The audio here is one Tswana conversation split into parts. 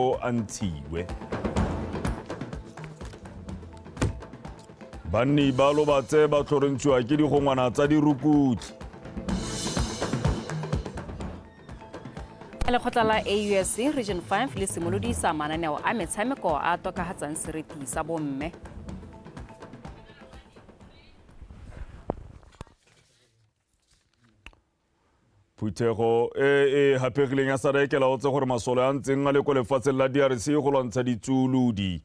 o a ntshiwe banni ba lobatse ba tlhorontshiwa ke digongwana tsa dirukutlhi lekgotla la ausc region 5 le simolodisa mananeo a metshameko a tokagatsang seriti sa bomme phuthego e e hapegileng ya sada e kelaotse gore masole a ntseng a le ko lefatsheng la drc go lwantsha ditsuolodi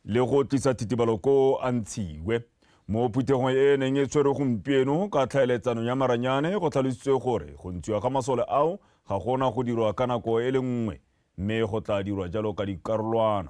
le go tlisa thitibalo ko a ntshiwe mo phuthegong e e neng e tshwere gompieno ka tlhaeletsano ya maranyane go tlhalositswe gore go ntshiwa ga masole ao ga gona go dirwa ka nako e le nngwe mme go tla dirwa jalo ka dikarolwana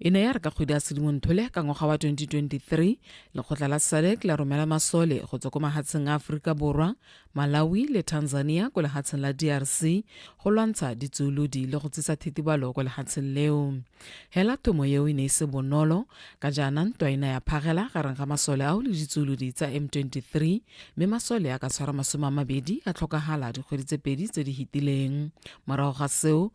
e ne ya re ka kgwedi ya sedimontole ka ngwaga wa 2023 lekgotla la sadec la romela masole go tswa ko mahatsheng a aforika borwa malawi le tanzania ko lehatsheng la drc go lwantsha ditsuolodi le go tsisa thetibalo ko lehatsheng leo hela thomo eo e ne e se bonolo ka jaana ntwa ena ya phagela gareng ga masole ao le ditsuolodi tsa m23 mme masole a ka tshwara masome a mabedi a tlhokagala dikgwedi tse pedi tse di hitileng morago ga seo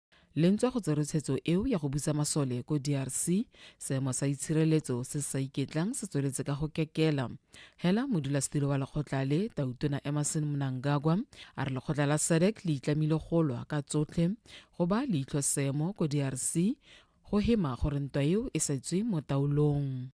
Le ntswa go tserwe tshetso eo ya go busa masole ko DRC, seemo sa itshireletso se se sa iketlang se tsweletse ka go kekela. Hela modulasetilo wa lekgotla le, Tautona Emmerson Mnangagwa, a re lekgotla la SADC le itlamile go lwa ka tsotlhe go ba leitlho seemo ko DRC, go hema gore ntwa eo e sa tswe mo taolong.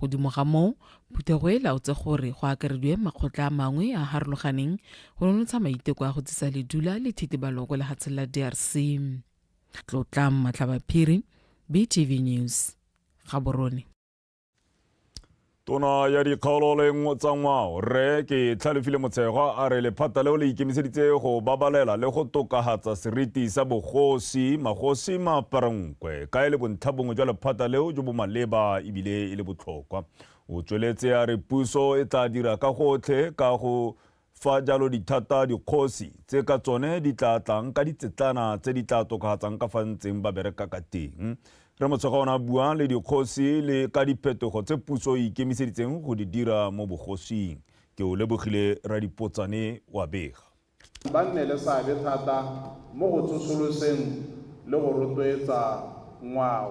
Godimo ga moo, phuthego e laotse gore go akarediwe makgotla a mangwe a a harologaneng go nonotsha maiteko a go tsisa ledula le thitibalo kwa lehatsheng la DRC. Tlotlang Matlhabaphiri, BTV News, Gaborone. Tona ya dikgaolo le tsa ngwao Rre ke Tlhalefile Motshegwa a re lephata leo le ikemiseditse go babalela le go tokahatsa seriti sa bogosi magosi maparang Kwe, ka e le bontlhabongwe jwa lephata leo jo bo maleba ebile e le botlhokwa. O tsweletse a re puso e tla dira ka gotlhe ka go fa jalo dithata dikgosi tse ka tsone di tla tlang ka ditsetlana tse di tla tokafatsang ka fa ntseng ba bereka ka teng re motshega ona bua le dikgosi le ka diphetogo tse puso e ikemiseditseng go di dira mo bogosing ke o lebogile radipotsane wa bega ba nne le seabe thata mo go tsosoloseng le go rotloetsa ngwao,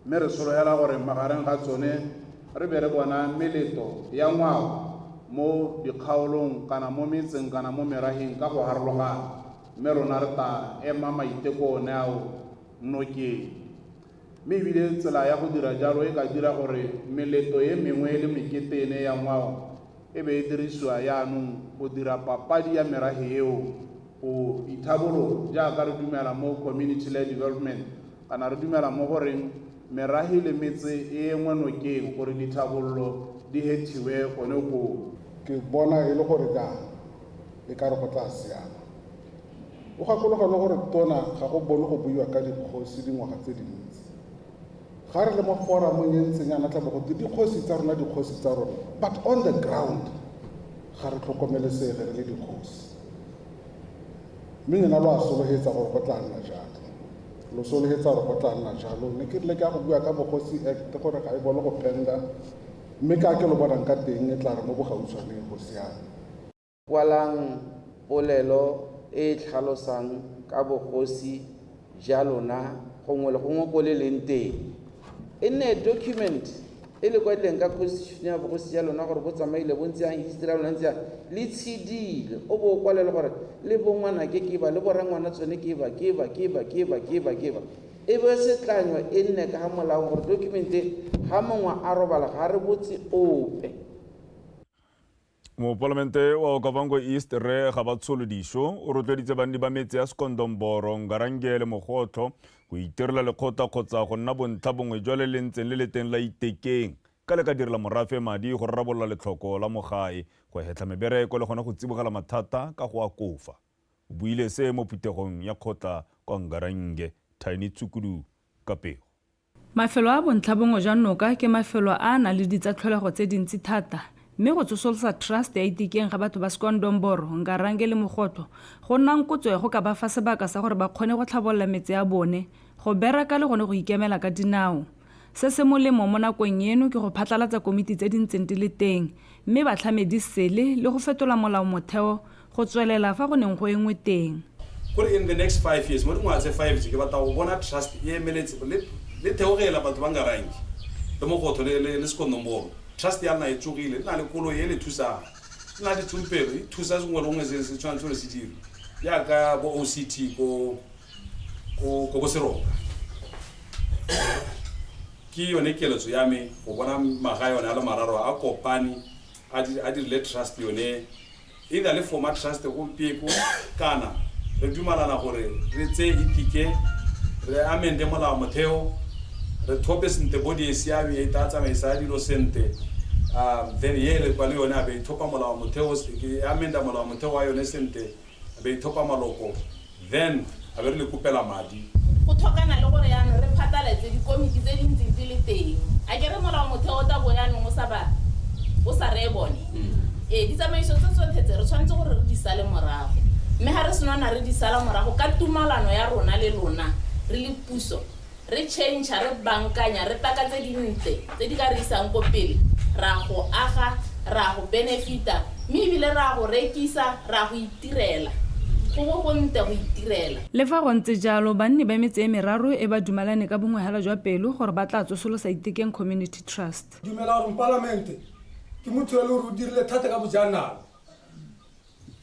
mme re sologela gore magareng ga tsone re be re bona meleto ya ngwao mo dikgaolong kana mo metseng kana mo meraheng ka go harologana, mme rona re tla ema maiteko one ao nokeng. Mme ebile tsela ya go dira jalo e ka dira gore meletlo e mengwe le mekete e ne ya ngwao e be e dirisiwa yaanong go dira papadi ya merafe eo go ithabolola, jaaka re dumela mo community-led development, kana re dumela mo go reng merafe le metse e enngwe nokeng gore dithabololo di hethiwe gone koo. Ke bona e le gore jang e ka re go tla siama. O gakologa le gore Tona ga go bone go buiwa ka dikgosi dingwaga tse dintsi. Ga re le mo foramong e ntseng yana tla bo go te dikgosi tsa rona, dikgosi tsa rona, but on the ground ga re tlhokomelesege re le dikgosi. Mme lona lo a sologetsa gore go tla nna jalo, lo sologetsa gore go tla nna jalo. Mme ke rile ke a go bua ka Bogosi Act gore ga e bone go penda, mme ka ke lo bonang ka teng e tla re mo bogautshwaneng go siame. Kwalang polelo e e tlhalosang ka bogosi ja lona gongwe le gongwe ko le leng teng. E nne document e le kwadileng ka constitution ya bogosi ja lona gore bo tsamaile bo ntse yang history ya lona ntse yang le tshedile o bo o kwalele gore le bongwana ke ke ba le borangwana tsone ke ba ke ba ke ba ke ba ke ba ke ba e be setlanywa e nne ka ga molao gore document e ga mongwe a robala ga re botse ope Mopalamente wa Okavango East Rre Gabatsholo Disho o rotloeditse banni ba metse ya Sekondomboro, Ngarange le Mogotlho go itirela lekgotla kgotsa go nna bontlha bongwe jwa le le ntseng le le teng la Itekeng ka le ka direla morafe madi go rarabolola letlhoko la mo gae, go hetlha mebereko le gone go tsibogela mathata ka go akofa. O buile se mo phuthegong ya kgotla kwa Ngarange, Tiny Tshukudu ka pego. Mafelo a bontlhabongwe jwa noka ke mafelo a a nang le ditsatlholego tse dintsi thata, mme go tsosolosa trust ya Itikeng ga batho ba Skondomboro, Ngarange le Mogotlo go nna nkotso ya go ka ba fa sebaka sa gore ba kgone go tlhabolola metse a bone, go beraka le gone go ikemela ka dinao. Se se molemo mo nakong eno ke go phatlalatsa komiti tse di ntseng di le teng mme batlhamedi sele le go fetola molaomotheo Go tswelela fa go neng go engwe teng. Gore in the next five years, mo dingwaga tse five tse, ke batla go bona trust e emeletse le, le theogela batho ba Ngarangi, le Mogotho, le, le, le Sekonomboro. Trust ya nna e tsogile, e na le koloi e le thusang, e na le ditsompelo, e thusa sengwe le gongwe se se tshwanetse gore se dirwe, jaaka bo OCT ko, ko, ko Boseroka. Ke yone keletso ya me, go bona magae one a le mararo a kopane, a di, a dirile trust yone. E na le Foma Trust gompieko kana re dumalana gore re tseye itike, re amende molao motheo, re thope sente body e siame e tla tsamaisa dilo sente, um then ye re kwa le yone a be ithopa molao motheo, e amenda molao motheo wa yone sente, a be ithopa maloko. Then a be re le kopela madi. Go tlhokana le gore yanong re phataletse dikomiti tse di ntseng di le teng. A ke re molaomotheo o tla bo yanong o sa ba o sa reye bone? Ee, ditsamaiso tse tsotlhe tse re tshwanetse gore re di sale morago. Mme ga re senona re di sala morago ka tumalano ya rona le lona re le puso, re tšhentšha, re bankanya, re paka tse dintle tse di ka re isang ko pele, re a go aga, re a go benefita, mme e bile re a go rekisa, re a go itirela. Go bo go nte go itirela! Le fa go ntse jalo, banni ba metse e meraro e ba dumalane ka bongwehela jwa pelo gore ba tla tsosolosa Itekeng Community Trust. Ke dumela gore Mopalamente ke motho yo e le gore o dirile thata ka bojanala.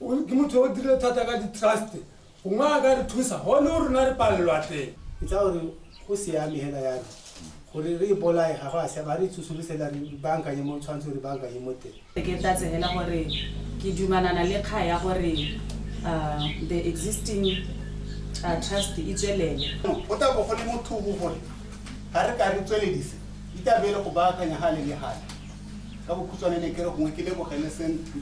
o ke motho o dire thata ka di-trust gongwe a ka re thusa gone o rona re palelwa teng ke tsa gore go siame hela yalo gore re e bolae ga go a siama re itsosolosela re bankanye mo tshwanetse re bankanye mo teng ke tla tsenela gore ke dumanana le kga ya gore uh, the existing uh, trust e tswelele go tla bo go le mothogo gore ga re ka re tsweledise itabe e le go baakanya gale le gale ka bokhutshwane ne kere gongwe ke lebogele sentry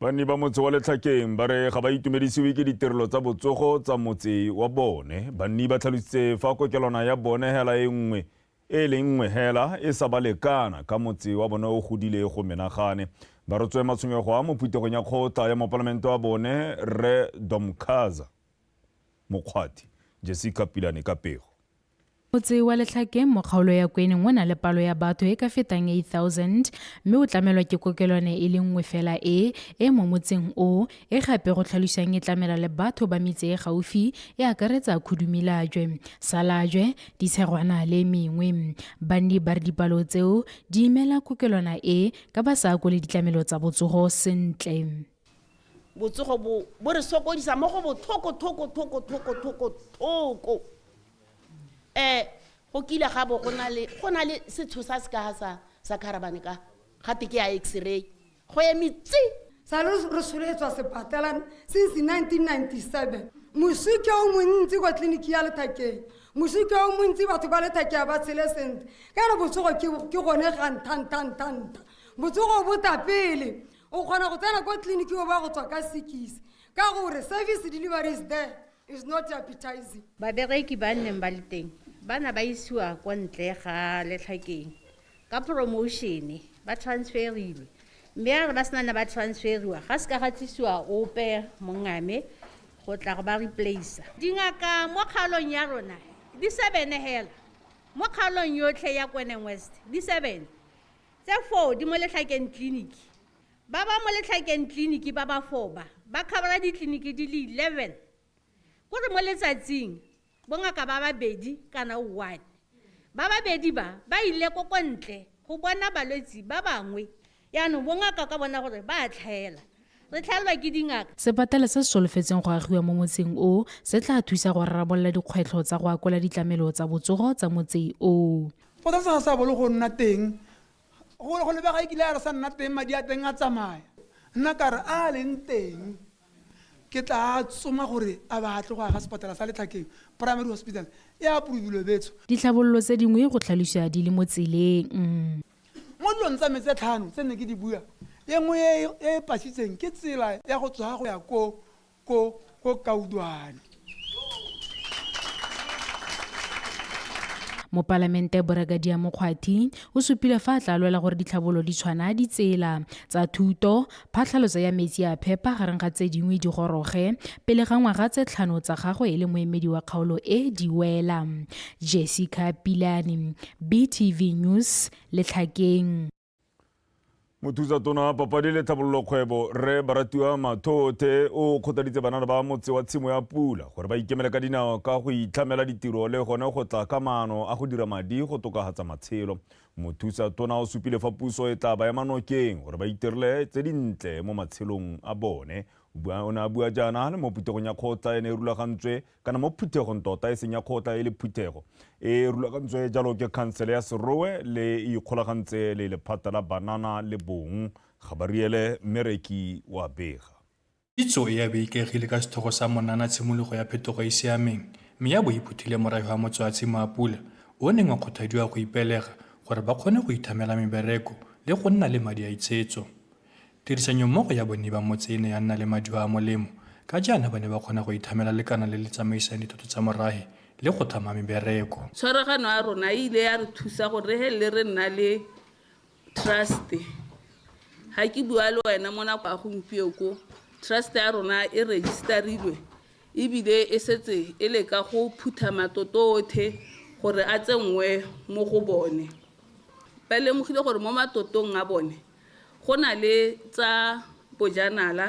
banni ba motse wa letlhakeng ba re ga ba itumedisiwe ke ditirelo tsa botsogo tsa motse wa bone banni ba tlhalositse fa kokelwana ya bone hela e nngwe e le nngwe hela e sa ba lekana ka motse wa bone o godile go menagane ba rotswe matshwenyego a mo phuthegong ya kgotla ya mopalamente wa bone rre domkhaza mokgwathi jessica pilane ka pego Motse wa Letlhakeng mo kgaolo ya Kweneng o na le palo ya batho e ka fetang 8,000 mme o tlamelwa ke kokelwane e le nngwe fela e e mo motseng o e gape go tlhalosang e tlamela le batho ba metse e gaufi e akaretsa Khudumilajwe, Salajwe, Ditshegwana le e mengwe. Banni ba re dipalo tseo di imela kokelwana e ka ba sa akole ditlamelo tsa botsogo sentle. botsogo bo bo re sokodisa mo go bothoko thoko thoko thoko thoko thoko um go kile ga bo go na le go na le setsho sa se kaga sa sa kharabane ka ga teke ya x-ray go eme tse sa le re soletswa sepatelang since 1997 mosike o montsi kwa tleliniki ya lethakeng mosike o montsi batho ba lethakea ba tshele sentle ka re botsogo ke gone ga ntha ntha ntha ntha botsogo bo tapele o kgona go tsena kwa tleliniki o ba go tswa ka sekise ka gore service delivery is there is not appetizing babereki ba nneng ba le teng ba na ba isiwa kwa ntle ga letlhakeng ka promotione ba transferilwe mme a re ba sena na ba transferiwa ga se ka ga tlisiwa ope mongame go tla go ba replacea dingaka mo kgaolong ya rona di sebene hela mo kgaolong yotlhe ya kwenen west di sebene Tse foo di mo letlhakeng tleliniki. Ba ba mo letlhakeng tleliniki ba ba foo ba, ba khabara ditleliniki di le 11. Ko re mo letsatsing, bongaka ba babedi kana one. Ba babedi ba, ba ile ko ko ntle go bona balwetsi ba bangwe. Jaanong bongaka ka bona gore ba a tlhaela. Re tlhaelwa ke dingaka. Sepatala se se solofetseng go agiwa mo motseng o, se tlaa thusa go rarabolola dikgwetlho tsa go akola ditlamelo tsa botsogo tsa motse o. Go tla sa sa bolo go nna teng. Go go lebega e kile a re sa nna teng madi a teng a tsamaya. Nna ka re a leng teng ke tla tsoma gore a ba a tle go aga sepatala sa Letlhakeng Primary Hospital. E approve-ilwe betsho. Ditlhabololo tse dingwe go tlhalosiwa di le mo tseleng. Mo dilong tsa me tse tlhano tse ne ke di bua, e nngwe e e pasitseng ke tsela ya go tswa go ya ko ko ko kaudwane mopalamente boragadia mokgwathi o supile fa a tla lwela gore ditlhabolo di tshwana ditsela tsa thuto phatlhaloso ya metsi a phepa gareng ga tse dingwe di goroge pele ga ngwaga tse tlhano tsa gagwe e le moemedi wa kgaolo e di wela jessica pilane btv news letlhakeng Mothusatona papadi le tlhabololo kgwebo Rre Baratiwa Mathothe o kgothaditse banana ba motse wa tshimo ya pula gore ba ikemele ka dinao ka go itlhamela ditiro le gone go tla ka maano a go dira madi go tokagatsa matshelo. Mothusa tona o supile fa puso e tla ba ema nokeng gore ba itirile tse dintle mo matshelong a bone. O ne a bua jaana le mo putegong ya kgotla e ne e rulagantswe kana mo phuthegong tota e seng ya kgotla e le phuthego e rulagantswe jalo ke khansele ya serowe le e ikgolagantse le lephata la banana le bong ga ba riele mmereki wa bega. Kitso e ya be ikaegile ka setlhogo sa monana tshimologo ya phetogo e e siameng mme ya bo e phuthile morayo ga motswatshimo a pula o o neng wa kgothadiwa go ipelega gore ba kgone go ithamela mebereko le go nna le madi a itshetso Tirisanyommogo ya bone ba motse e ne ya nna le maduo a molemo, ka jaana ba ne ba kgona go ithamela lekana le le tsamaisang dithoto tsa morahe le go tlhama mebereko. Tshwaragano ya rona e ile ya re thusa gore re felele re nna le trust-e. Ga ke bua le wena mo nako ya gompieno ko, trust-e ya rona e register-ilwe ebile e setse e le ka go phutha matoto otlhe gore a tsenngwe mo go bone. Ba lemogile gore mo matotong a bone Go na le tsa bojanala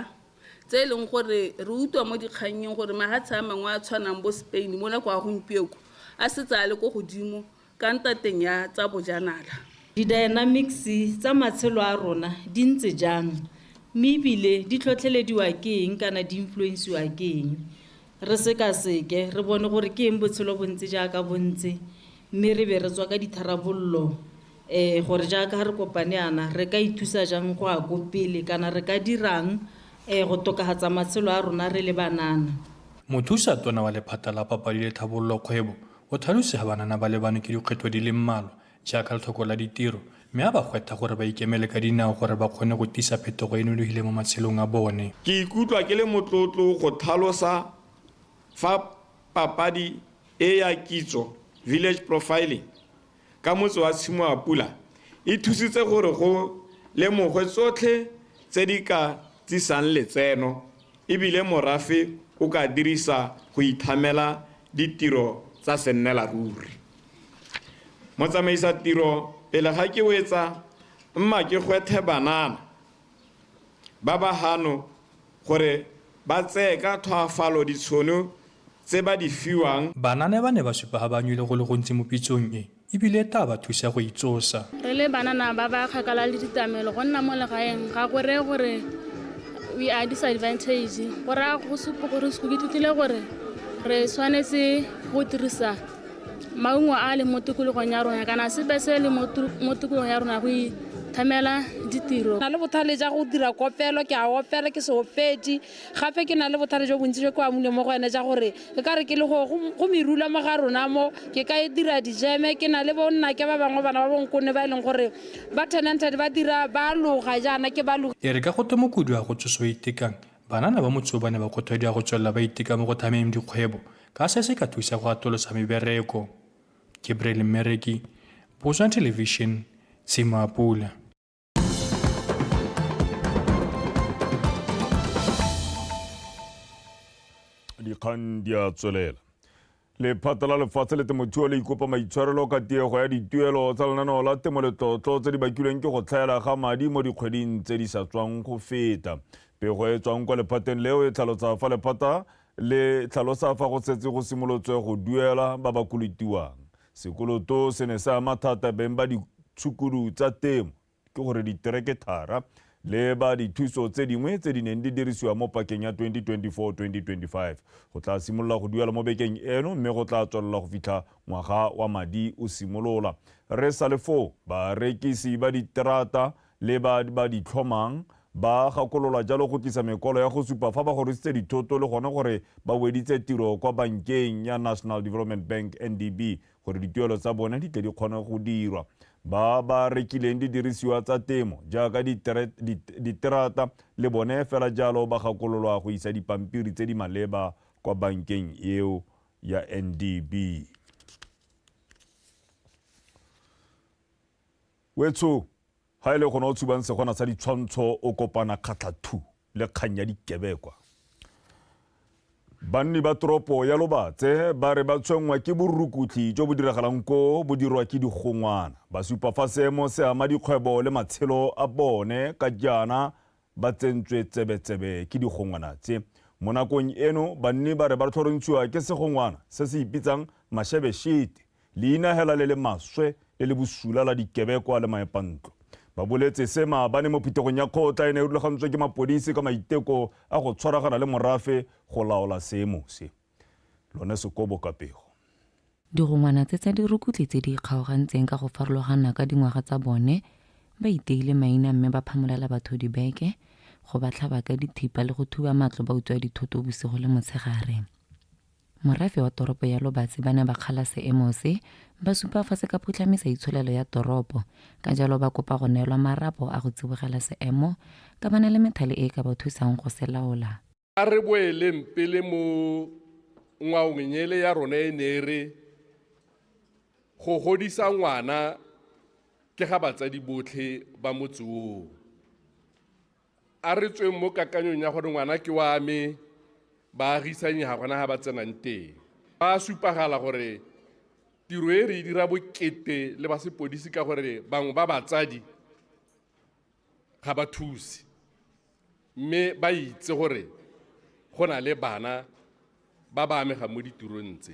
tse e leng gore re utlwa mo dikgannyeng gore mahatshe a mangwe a tshwanang bo Spain mola kwa gompieko a setse a le ko godimo ka ntateng ya tsa bojanala. Di-dynamics tsa matshelo a rona di ntse jang mme e bile di tlhotlhelediwa ke eng kana di influence-iwa ke eng? Re sekaseke re bone gore ke eng botshelo bo ntse jaaka bo ntse mme re be re tswa ka ditharabololo Ee, gore jaaka re kopane yana, re ka ithusa jang go ya ko pele kana re ka dirang ee go tokafatsa matshelo a rona re le banana? Mothusa Tona wa Lephata la Papadi le Tlhabololo Kgwebo o tlhalositse fa banana ba lebanwe ke dikgwetlho di le mmalwa jaaka letlhoko la ditiro mme a ba gwetha gore ba ikemele ka dinao gore ba kgone go tisa phetogo e e nonofileng mo matshelong a bone. Ke ikutlwa ke le motlotlo go tlhalosa fa papadi e ya kitso, village profiling, ka motse wa Tshimoapula e thusitse gore go lemogwe tsotlhe tse di ka tsisang letseno e bile morafe o ka dirisa go ithamela ditiro tsa sennelaruri. Motsamaisa tiro pele ga ke wetsa mma ke gwethe banana. Ba ba gano gore ba tseye ka tlhwaafalo ditshono tse ba di fiwang. Bana ne ba ne ba supa ga ba nwele go le gontsi mo pitsong e e bile e taa ba thusa go itsosa. Re le banana ba ba kgakala le ditlamelo, go nna mo legaeng ga go reye gore we are disadvantaged. Go raya go supa gore ke ithutile gore re tshwanetse go dirisa. maungo a a leng mo tikologong ya rona kana sepe se le mo tikologong ya rona go ithamela ditiro na le bothale ja go dira kopelo ke a opela ke seopedi gape ke na le bothale jo bontsi jo ke amune mo go ene ja gore ke ka re ke le go merula mo ga rona mo ke ka e dira dijeme ke na le bonna ke ba bangwe bana ba bonkone ba e leng gore ba tenanted ba dira ba loga jaana ke ba loga e re ka go twe mokudi a go tsoso itekang Banana ba motse o ba ne ba kgothadiwa go tswelela ba iteka mo go thameng dikgwebo ka se se ka thusa go atolosa mebereko. Gabriel Mmereki, Botswana Television, Tshimo a Pula. Dikgang di a tswelela. Lephata la Lefatshe le Temothuo le ikopa maitshwarelo ka tiego ya dituelo tsa lenaneo la temo letlotlo tse di bakilweng ke go tlhaela ga madi mo dikgweding tse di sa tswang go feta. Pego e tswang kwa lephateng leo e tlhalosa fa lephata le tlhalosa fa go setse go simolotswe go duela ba ba kolotiwang. Sekoloto se ne se ama thata beng ba ditshukudu tsa temo. ke gore diterekethara le ba dithuso tse dingwe tse di neng di dirisiwa mo pakeng ya 2024-2025 go tla simolola go duela mo bekeng eno mme go tla tswelela go fitlha ngwaga wa madi o simolola. Re sa le foo, barekisi ba diterata le ba ba di tlhomang ba gakolola jalo go tlisa mekwalo ya go supa fa ba gorositse dithoto le gone gore ba weditse tiro kwa bankeng ya National Development Bank, NDB, gore dituelo tsa bone di tle di kgone go dirwa. Ba ba rekileng didirisiwa tsa temo jaaka diterata le bone fela jalo ba gakololwa go isa dipampiri tse di maleba kwa bankeng eo ya NDB. Wetsho Ga e le gona o tshubang segona sa ditshwantsho o kopana kgatlhathu le kgang ya dikebekwa. Banni ba toropo ya Lobatse ba re ba tshwenngwa ke borukutlhi jo bo diragalang ko bo dirwa ke digongwana. Ba supa fa seemo se ama dikgwebo le matshelo a bone ka jaana ba tsentswe tsebetsebe ke digongwana tse. Mo nakong eno, banni ba re ba tlhorontshiwa ke segongwana se se ipitsang Mashebeshete, leina hela le le maswe le le bosula la dikebekwa le maepantlo. Ba boletse se maabane mo phuthegong ya kgotla e ne e rulagantswe ke mapodisi ka maiteko a go tshwaragana le morafe go laola seemo se. lone sekobo ka pego. Digongwana tse tsa dirukutlhi tse di ikgaogantseng ka go farologana ka dingwaga tsa bone, ba iteile maina mme ba phamolela batho dibeke, go ba tlhaba ka dithipa le go thuba matlo ba utswa dithoto bosigo le motshegare. Morafe wa toropo ya Lobatse ba ne ba kgala seemo se, ba supa fa se ka phutlhamisa itsholelo ya toropo, ka jalo ba kopa go neelwa marapo a go tsibogela seemo ka ba na le methale e e ka ba thusang go se laola. A re boeleng pele mo ngwaong nyele ya rona e ne e re go godisa ngwana ke ga batsadi botlhe ba motse oo. A re tsweng mo kakanyong ya gore ngwana ke wa me baagisanye ga gona ga ba tsenang teng. Ba a supagala gore tiro e re e dira bokete le ba sepodisi ka gore bangwe ba batsadi ga ba thuse mme ba itse gore go na le bana ba ba amegang mo ditirong tse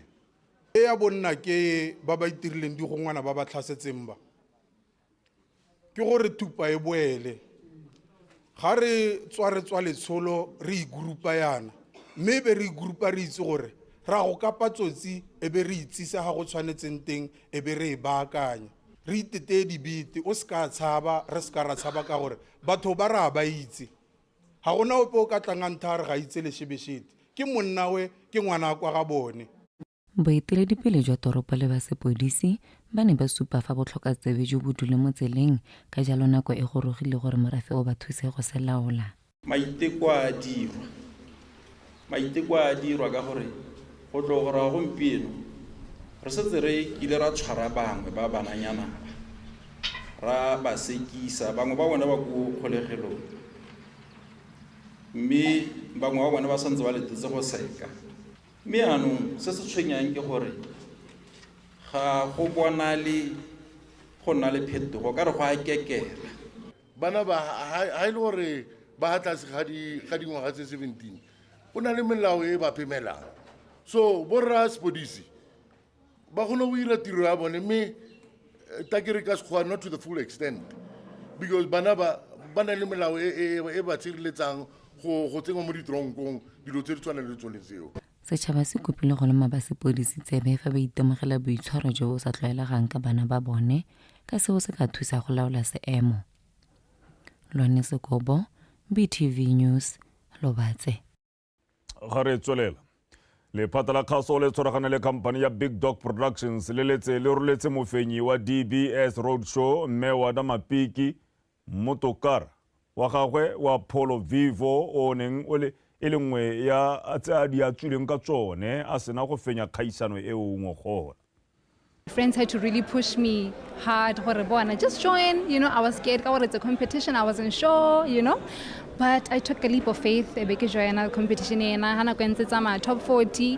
e ya bonna ke ba ba itirileng digongwana ba ba tlhasetseng ba ke gore thupa e boele ga re tswa re tswa letsholo re igurupa yana mme e be re igurupa re itse gore ra go kapa tsotsi e be re itsise ga go tshwanetseng teng e be re e baakanya Re iteteye dibete, o se ka tshaba, re se ka ra tshaba ka gore batho ba ra ba itse. Ga gona ope o ka tlang a ntha a re ga itse Leshebeshete. Ke monnawe, ke ngwana kwa ga bone. Boeteledipele jwa toropo le ba sepodisi ba ne ba supa fa botlhokatsebe jo bo dule mo tseleng ka jalo nako e gorogile gore morafe o ba thuse go se laola. maiteko a dirwa maiteko a dirwa ka gore go tlo go raya gompieno re setse re kile ra tshwara bangwe ba bananyana ra ba sekisa bangwe ba bone ba ko kgolegelong mme bangwe ba bone ba santse ba letetse go seka mme anong se se tshwenyang ke gore ga go bonale go nna le phetogo ka re go a kekela bana ba ha e le gore ba ha tlase ga dingwaga tse seventeen go na le melao e ba pemelang so borra sepodisi ba kgone go dira tiro ya bone mme eh, ta ke re ka sekgowa not to the full extent because bana ba ba na le melao e, e, e ba tshireletsang go go tsengwa mo ditronkong dilo tse di tshwana le tsone tseo Setšhaba se kopile go loma ba sepodisi tsebe fa ba itemogela boitshwaro jo bo sa tlwaelegang ka bana ba bone ka seo se ka thusa go laola seemo. Lone Sekobo, BTV News, Lobatse. Ga re tswelela. Lephata la kgaso le tshwaragane le khamphane ya Big Dog Productions le letse le roletse mofenyi wa DBS Roadshow Mme Wada Mapiki Mmotokarra wa gagwe wa Polo Vivo o neng o le e le nngwe ya tse a di atswileng ka tsone a sena go fenya kgaisano eo o ngogola. Friends had to really push me hard gore bona just join, you know, I was scared ka gore it's a competition, I wasn't sure, you know. But I took a leap of faith, e be ke joina competition ena, ha nako e ntse tsamaya top 40,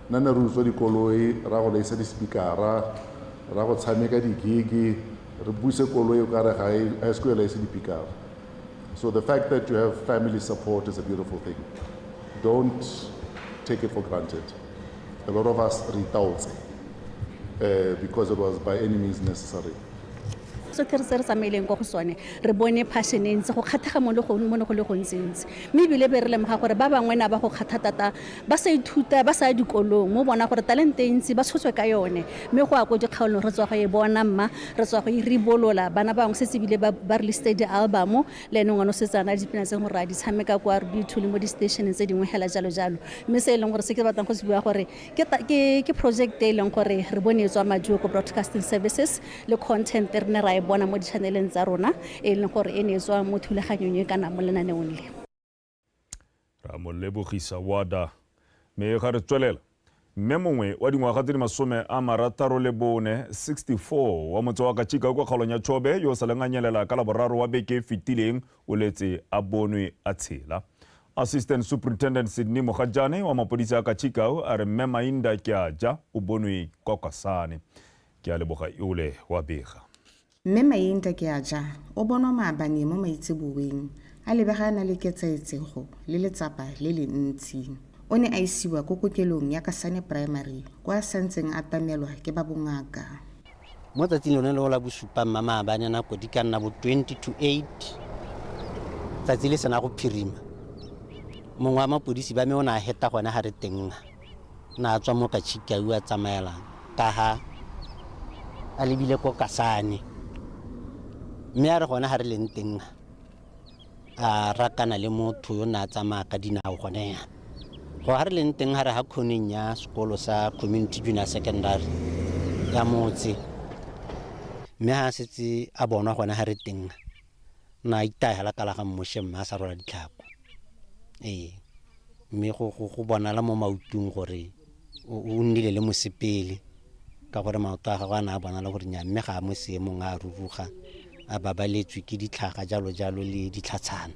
Nna ne re utswa dikoloi, re ya go laisa di-speaker-a, re ya go tshameka di-gig-e, re buse koloi o ka re ga e se ko e laise dipikara. So the fact that you have family support is a beautiful thing. Don't take it for granted. A lot of us re itaotse eh, because it was by any means necessary. sotlhe re se re tsamaileng ko go sone re bone passion e ntse go kgathega mo ne go le gontsintsi mme ebile be re lemoga gore ba bangwe na ba go kgatha tata ba sa ithuta ba sa ya dikolong mo bona gore talente e ntsi ba tshotswe ka yone mme go ya ko dikgaolong re tswa go e bona mma re tswa go e ribolola bana bangwe setse ebile ba ba released di-album le ene ngwana o setse ana dipina tse gore a di tshameka ko r b two le mo di-stationeng tse dingwe hela jalo jalo mme se e leng gore se ke batlang go se bua gore ke ta- ke ke project e leng gore re bone e tswa majoko broadcasting services le content e re ne ra e bona mo di-channeleng tsa rona e leng gore e ne e tswa mo thulaganyong e kana mo lenaneong le ra mo lebogisa wada mme ga re tswelela mme mongwe wa dingwaga tse di masome a marataro le bone 64 wa motse wa kachika kwa kgaolong ya chobe yo o sa leng a nyelela ka laboraro wa beke e fetileng o letse a bonwe a tshela. Assistant Superintendent Sydney Mogajane wa mapodisi a Kachikau a re mme Mainda ke a ja o bonwe kwa Kwasane. Ke a leboga Iole wa bega. Mme Mainda ke a ja o bonwa maabane mo maitseboeng a lebega a na le ketsaetsego le letsapa le le ntsi. O ne a isiwa ko kokelong ya Kasane Primary kwa a santseng a tamelwa ke ba bongaka. Mo tsatsing lone leo la bosupa mma maabane nako di ka nna bo 20 to 8 tsatsi le sena go phirima mongwe wa mapodisi ba me o ne a heta gone ga re tenga na a tswa mo ka chikau a tsamaelang ka ha a lebile ko kasane mme a re gone ga re leng tenga a rakana le motho yo ne a tsamaya ka dinao gone yana go ga re leng teng ga re ga khoneng ya sekolo sa community junior secondary ya motse mme ga a setse a bonwa gone ga re teng na itayala kala ga mmoše mme a sa rola ditlhako ee mme go bonala mo mautong gore o o nnile le mosepele ka gore maoto a gagwe a ne a bonala gore nya mme ga a mo seemong a ruruga a babaletswe ke ditlhaga jalo jalo le ditlhatshana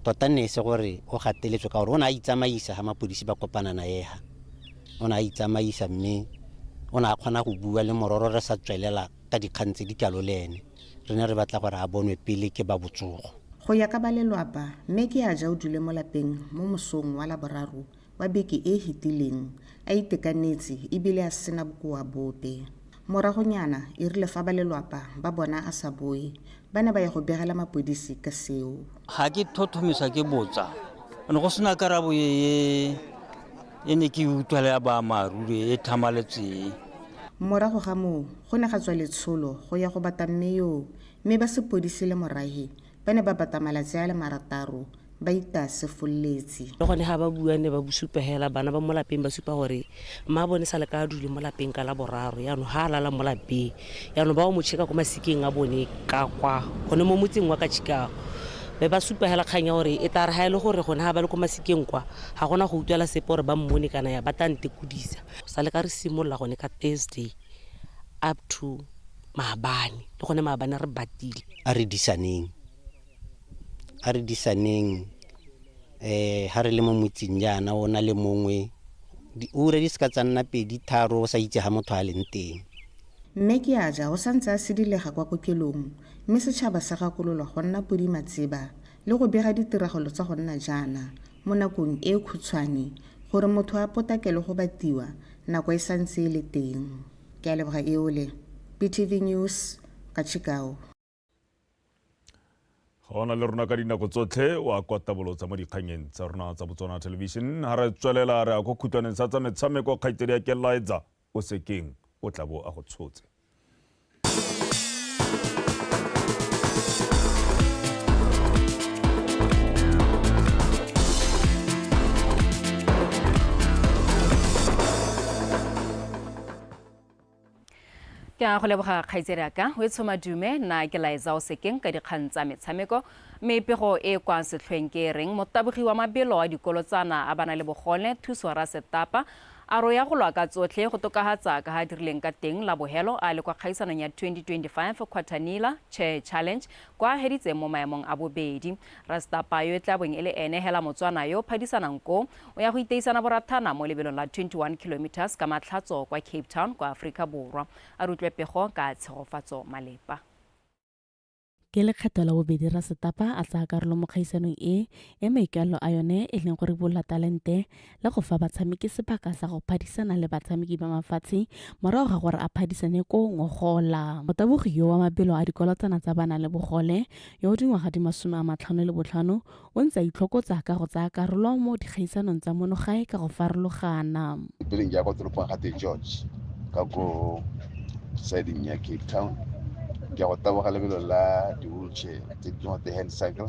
tota nne e se gore o gateletswe ka gore o ne a itsamaisa ga mapodisi ba kopana na ega o ne a itsamaisa mme o ne a kgona go bua le mororo re sa tswelela ka dikgang tse di kalo le ene re ne re batla gore a bonwe pele ke ba botsogo go ya ka ba lelwapa mme ke a ja o dule mo lapeng mo mosong wa laboraro wa beke e e fetileng a itekanetse e bile a sena bokoa bope. Moragonyana e rile fa ba lelwapa ba bona a sa boe, ba ne ba ya go begela mapodisi ka seo. Ga ke thothomisa ke botsa, ne go sena karabo e e ne ke e utlwa le ya baamaaruri e tlhamaletseng. Morago ga moo go ne ga tswa letsholo go ya go bata mme yoo mme ba sepodisi le morahe Ba ne ba bata malatsi a le marataro ba itase folletsi. Le gone ga ba bua ne ba bosupa hela bana ba mo lapeng ba supa gore mma bone sa le ka dule mo lapeng ka la boraro yaanong ga a lala mo lapeng yaanong ba o mo cheka ko masikeng a bone ka kwa gone mo motseng wa ka Chicago be ba supa hela kgang ya gore e tla re ga e le gore gone ga ba le ko masikeng kwa ga gona go utlwela sepe gore ba mmone kana ya ba tla ntekodisa go sa le ka re simolola gone ka Thursday up to maabane le gone maabane re batile a re disaneng a re disaneng eh ha re le mo motseng jaana o na le mongwe diura di seka tsa nna pedi tharo o sa itse ga motho a leng teng Mme ke a ja o sa ntse a sidilega kwa kokelong mme setšhaba se gakololwa go nna podi matseba le go bega ditiragalo tsa go nna jaana mo nakong e khutshwane gore motho a potakele go batiwa nako e sa ntse e le teng. Ke a leboga Eole. PTV News ka Chicago. Ga ona le rona ka dinako tsotlhe wa kwa tabolotsa mo dikganyeng tsa rona tsa Botswana Television. Ga re tswelela re ya ko khutwaneng sa tsa metshameko kgaitsedi ya Keliza o sekeng o tla bo a go tshotse. ke a go leboga kgaitsedi ya ka o e tshomadume na ke laetsa o sekeng ka dikgang tsa metshameko mme pego e kwa setlhweng ke e reng motabogi wa mabelo a dikolo tsana a bana le bogone thuso ra setapa a ro ya go lwa ka tsotlhe go tokagatsa ka ga dirileng ka teng la bohelo a le kwa kgaisanong ya 2025 quatanila chair challenge kwa heditseng mo maemong a bobedi Rasta Payo e tla bong e le ene hela Motswana yo o phadisanang ko o ya go iteisana borathana mo lebelong la 21 kilometres ka Matlhatso kwa Cape Town kwa Aforika Borwa. A re utlwe pego ka tshegofatso malepa. Ke lekgetho la bobedi Rasetapa a tsaya karolo mo kgaisanong e, e maikaelelo a yone e leng go ribolola talente le go fa batshameki sebaka sa go phadisana le batshameki ba mafatshe morago ga gore a phadisane ko ngogola motabogi yo wa mabelo a dikolotsana tsa bana le bogole yo o dingwaga di masome a matlhano le botlhano o ntse a itlhokotsa ka go tsaya karolo mo dikgaisanong tsa monogae ka go farologana peleng ya kwa toropong ga george ka ko siding ya cape town ke ya go taboga lebelo la di-wheelchair tse di tse di hand cycle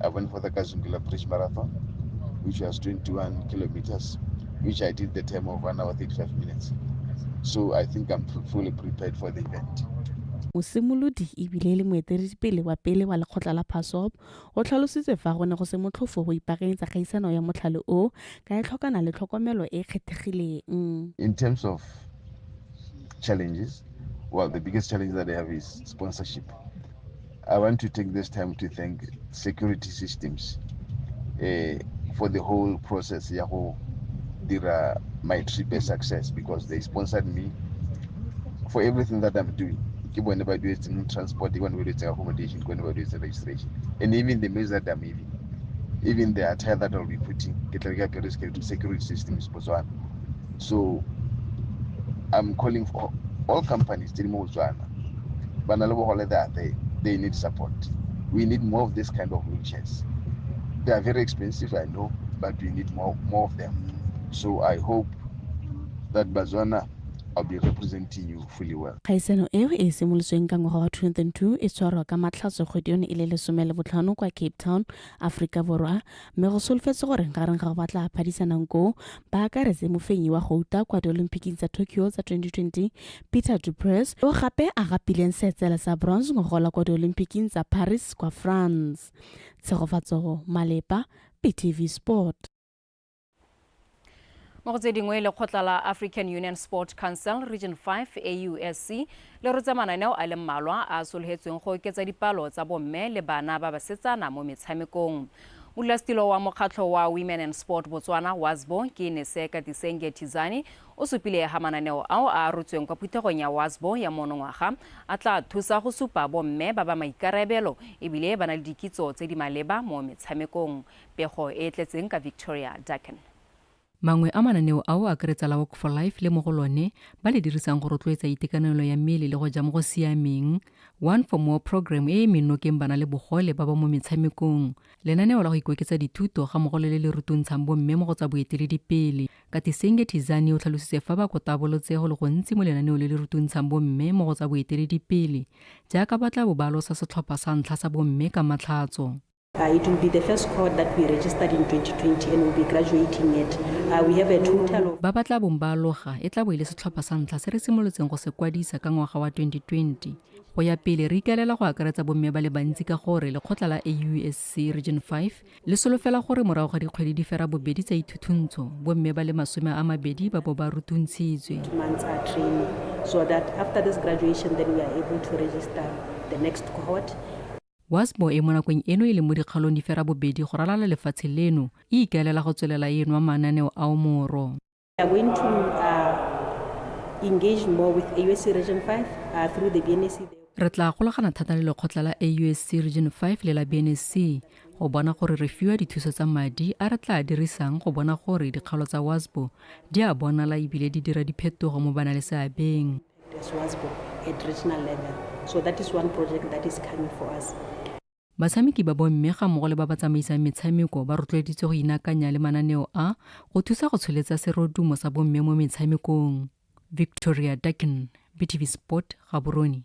I went for the Kazungila Bridge Marathon, which was 21 kilometers, which I did the time of 1 hour 35 minutes. So I think I'm fully prepared for the event. mosimolodi ebile e le moeteledipele wa pele wa lekgotla la phasop o tlhalositse fa go ne go se motlhofo go ipaakanyetsa kgaisano ya motlhale o ka e tlhokana le tlhokomelo e e kgethegileng in terms of challenges well the biggest challenge that they have is sponsorship I want to take this time to thank security systems uh, for the whole process ya go dira my trip a success because they sponsored me for everything that I'm doing. Ke bone ba duetseng transport, ke bone ba duetseng accommodation, ke bone ba duetseng registration. And even the meals that I'm even, even the attire that I'll be putting, ke tla ke apere security systems. Botswana. So I'm calling for all companies tse di mo Botswana ba na le bogole they are there they need support we need more of this kind of wheelchairs they are very expensive I know but we need more more of them so I hope that Botswana I'll be representing you fully well. Kgaisano eo e simolotsweng ka ngwaga wa 2002 e tshwarwa ka matlhatso kgwedi yone e le lesome le botlhano kwa Cape Town, Aforika Borwa, mme go solofetse gore gareng ga go batla phadisanang koo ba akaretse mofenyi wa gouta kwa diolympiking tsa tokyo tsa 2020 peter dupres yo gape a gapileng seetsela sa bronze go gola kwa diolympiking tsa paris kwa france tshegofatsogo malepa ptv sport mo go tse dingwe lekgotla la african union sport council region 5 ausc le rotse mananeo a le mmalwa a a sologetsweng go oketsa dipalo tsa bomme le bana ba basetsana mo metshamekong modulasetilo wa mokgatlho wa women and sport botswana wasbo ke neseka tisenge tizani o supile ga mananeo ao a a rotsweng kwa phuthegong ya wasbo ya monongwaga a tla thusa go supa bomme ba ba maikarabelo ebile ba na le dikitso tse di maleba mo metshamekong Pego e e tletseng ka Victoria Dacken. Mangwe a mananeo ao a akaretsa la Walk for Life le mo go lone ba le dirisang go rotloetsa itekanelo ya mmele le go ja mo go siameng, One for More program e e mennokeng bana le bogole ba ba mo metshamekong, lenaneo la go ikoketsa dithuto ga mmogo le le le rutuntshang bomme mo go tsa boeteledipele. Katisenge Thizani o tlhalositse fa ba kotabolotse go le gontsi mo lenaneo le le rutuntshang bomme mo go tsa boeteledipele, jaaka ba tla bo ba losa setlhopha sa ntlha sa bomme ka Matlhatso. Uh, it will be the first cohort that we registered in 2020 and will be graduating it. Uh, we have a total of... Ba ba tla bong ba aloga e tla bo e le setlhopha sa ntlha se re simolotseng go se kwadisa ka ngwaga wa 2020. Go ya pele re ikaelela go akaretsa bomme ba le bantsi ka gore lekgotla la AUSC Region 5 le solofela gore morago ga dikgwedi di fera bobedi tsa ithuthuntsho bomme ba le masome a mabedi ba bo ba rutuntshitswe. So that after this graduation then we are able to register the next cohort. Wasbo e mo nakong eno e leng mo dikgaolong di fera bobedi go ralala lefatshe leno, e ikaelela go tswelela e nwa mananeo ao moro. We are going to uh, engage more with AUSC Region 5 uh, through the BNSC. Re tla golagana thata le lekgotla la AUSC Region 5 le la BNSC go bona gore re fiwa dithuso tsa madi a re tla dirisang go bona gore dikgaolo tsa WASBO di a bonala ebile di dira diphetogo mo ba na le seabeng. Batshameki ba bomme ga mmogo le ba ba tsamaisang metshameko ba rotloeditswe go inakanya le mananeo a go thusa go tsholetsa serodumo sa bomme mo metshamekong. Victoria Duckin, BTV Sport, Gaborone.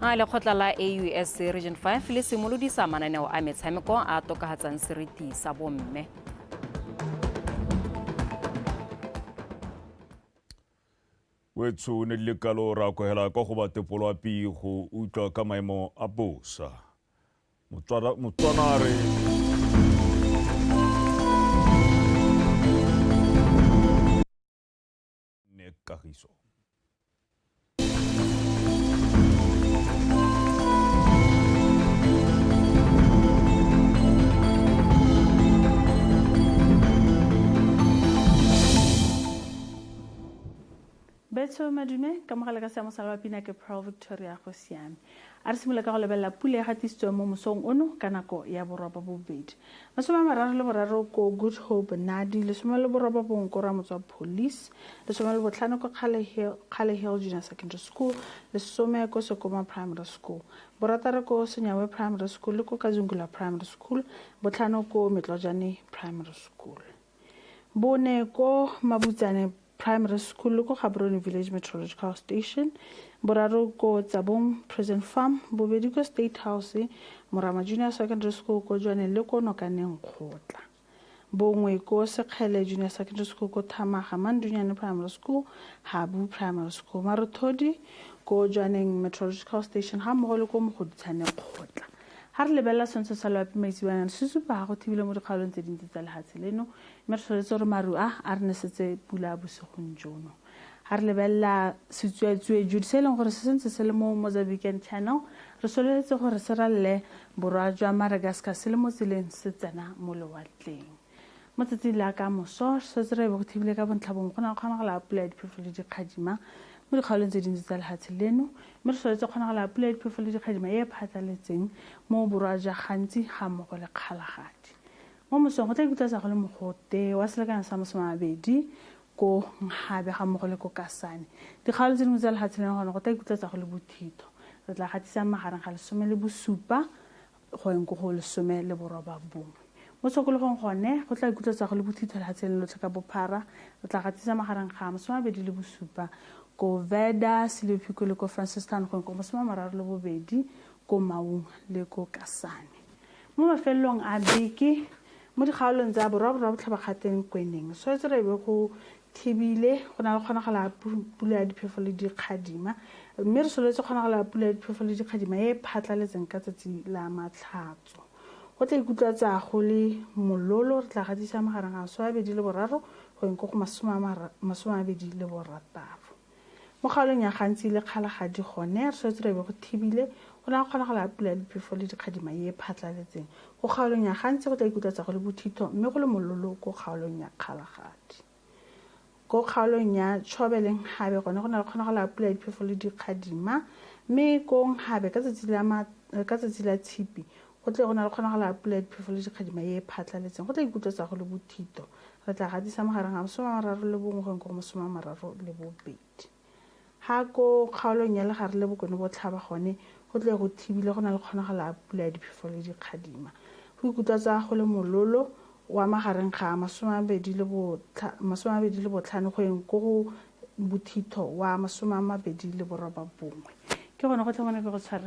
a lekgotla la aus region 5 le simolodisa mananeo a metshameko a tokafatsang seriti sa bomme wetsho o ne le kalo ra kwegela kwa go batepolo a pi go utlwa ka maemo a bosa motswanare Nick Kagiso. Betso Madume ka mogala ka seamo sa la pina ke Pearl Victoria go siame A re simolola ka go lebelela pule e gatisitsweng mo mosong ono ka nako ya borwa ba bobedi. Masome a mararo le boraro ko Good Hope Nadi, lesome le boroba bong ko Ramotswa Police, lesome le botlhano ko Kgale Hill, Kgale Hill Junior Secondary School, lesome ko Sekoma Primary School, borataro ko Senyawe Primary School le ko Kazungula Primary School, botlhano ko Metlojane Primary School, bone ko Mabutsane primary school ko gaborone village meteorological station boraro ko tsabong prison farm bobedi ko state house morama junior secondary school ko jwaneng le ko nokaneng kgotla bongwe ko sekgele junior secondary school ko thamaga mandunyane primary school habu primary school marothodi ko jwaneng meteorological station ga mmogo le ko mogoditshane kgotla ga re lebelela sentse sa loapi maitsebanyana se supa ga go thibile mo dikgaolong tse dintsi tsa lehatshe leno mme re tshwanetse gore maru a a re nesetse pula a bosigong jono ga re lebelela setsuatsue jude se e leng gore se sentse se le mo mozambican channel re sololetse gore se ralele borwa jwa madagascar se le mo tseleng se tsena mo lewatleng mo tsatsing la ka moso re setse re ebe go thibile ka bontlhabong go na kgonagala pula ya diphefo le dikgadima mo dikgaolong tse dintsi tsa lefatshe leno mme re sololetse kgonagala pula ya diphefo le dikgadima e e phatlaletseng mo borwa jwa gantsi ga mmogo le kgalagadi Mo mosong go tla ikutlatsa go le mogote wa selekano sa masome a mabedi ko Nkgabe ga mmogo le ko Kasane. Dikgaolo tse dingwe tsa lefatshe leno gone go tla ikutlatsa go le bothitho. Re tla gatisang magareng ga lesome le bosupa go yeng ko go lesome le boroba bongwe. Mo tshokologong gone go tla ikutlatsa go le bothitho lefatshe leno lotlhe ka bophara. Re tla gatisa magareng ga masome a mabedi le bosupa ko Veda, Siliophiko le ko Francistown go yeng ko masome a mararo le bobedi ko Maung le ko Kasane. mo mafelelong a beke mo dikgaolong tsa borwaborwa botlhabakgateng kweneng so e tsere be go thibile go na le kgonagala pula ya diphefo le dikgadima mme re soletse kgonagala pula ya diphefo le dikgadima e e phatlaletseng ka tsatsi la matlhatso go tla ikutlwa tsa go le mololo re tla gatisa magareng a masome a bedi le boraro go eng ko go masome a bedi le borataro Mo kgaolong ya Gantsi le Kgalagadi gone, re swetse re be go thibile, go na go kgonagalo ya pula ya diphefo le dikgadima e e phatlaletseng. Ko kgaolong ya Gantsi go tla ikutlatsa go le bothitho mme go le mololo ko kgaolong ya Kgalagadi. Ko kgaolong ya Chobe le Nghabe gone go na le kgonagalo ya pula ya diphefo le dikgadima mme ko Nghabe ka tsatsi la ka tsatsi la Tshipi go tle go na le kgonagalo ya pula ya diphefo le dikgadima e e phatlaletseng, go tla ikutlatsa go le bothitho. Re tla gatisa magareng ga masome a mararo le bongwe go eng go masome a mararo le bobedi. Ga ko kgaolong ya legare le bokone botlhaba gone go tle go thibile go na le kgonagalo ya pula ya diphefo le dikgadima. Go ikutlwa tsa go le mololo wa magareng ga masome a mabedi le botlhano go eng ko go bothitho wa masome a mabedi le boroba bongwe. Ke gone go tlhomane ke go tshwaretse